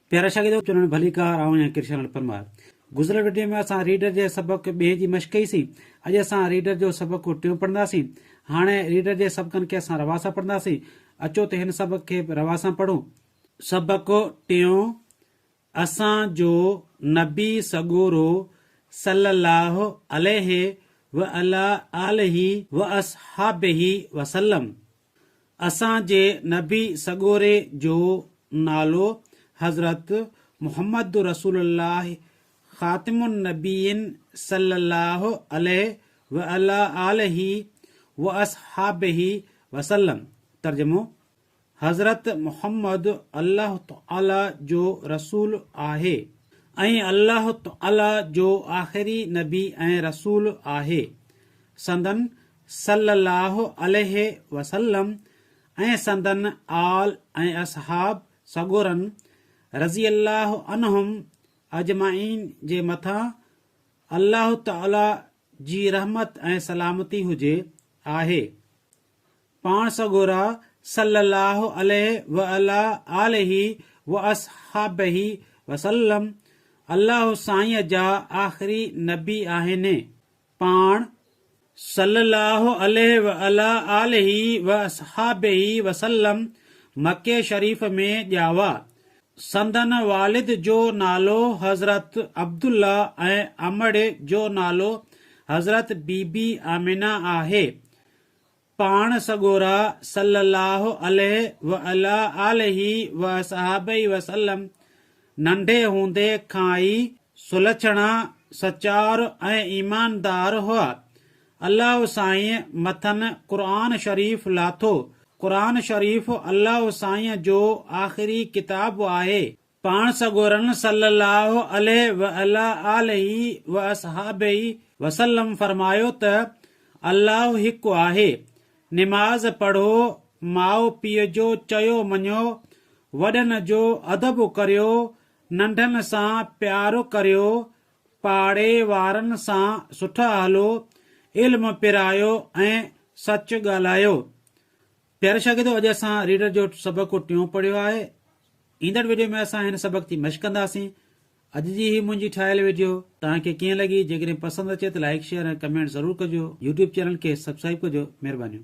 پيارا شاگردو چونڻ ڀليڪار آئون آهيان ڪرشن لال پرمار گذريل وڊيو ۾ اسان ريڊر جي سبق ٻئي جي مشق ڪئي سين اڄ اسان ريڊر جو سبق ٽيون پڙهندا سين هاڻي ريڊر جي سبقن کي اسان روا سان پڙهندا سين اچو ته هن سبق کي به روا سان پڙهون سبق ٽيون اسان جو نبي سڳورو صلي الله عليه وعلي آله واصحابه وسلم اسان جي نبي سڳوري جو نالو حضرت محمد رسول الله خاتم النبيين صلّي الله عليه وعلي آله واصحابه وسلّم، ترجمو، حضرت محمد الله تعالي جو رسول آهي ۽ الله تعالي جو آخري نبي ۽ رسول آهي، سندن صلّي اللّٰه عليه وسلّم ۽ سندن آل ۽ اصحاب سڳورن رضي اللّٰه عنهم اجمعين جي مٿان اللّٰه تعالٰي جي رحمت ۽ سلامتي هجي آهي. پاڻ سڳورا صلّي اللّٰه عليه وعلٰي آله واصحٰبه وسلّم اللّٰه سائينء جا آخري نبي آهن. پاڻ صلّي اللّٰه عليه وعلٰي آله واصحٰبه وسلّم مڪي شريف ۾ ڄاوا. سندن والد جو نالو حضرت عبدالله ۽ امڙ جو نالو حضرت بيبي آمنه آهي. پاڻ سڳورا صلّي اللّٰه عليه وعلٰي آله واصحٰبه وسلّم ننڍي هوندي کان ئي سلڇڻا، سچار ۽ ايماندار هئا. اللّٰه سائين مٿن قرآن شريف لاٿو. قرآن شريف اللّٰه سائين جو آخري ڪتاب آهي. پاڻ سڳورن صلّي اللّٰه عليه وعلٰي آله واصحٰبه وسلّم فرمايو ته، الله هڪ آهي، نماز پڙهو، ماء پيء جو چيو مڃو، وڏن جو ادب ڪريو، ننڍن سان پيار ڪريو، پاڙي وارن سان سٺا هلو، علم پرايو ۽ سچ ڳالهايو. پياري شاگردو اڄ اسان ريڊر جو سبق ٽيون پڙهيو آهي. ايندڙ وڊيو ۾ اسان هن سبق تي مشق ڪنداسين. اڄ جي هي منهنجي ٺاهيل وڊيو توهان کي ڪيئن لڳي جيڪڏهن پسند اچي ته لائيڪ شيئر ۽ ڪمينٽ ضرور ڪجو يوٽيوب چينل کي سبسڪرائيب ڪجو مهربانيون.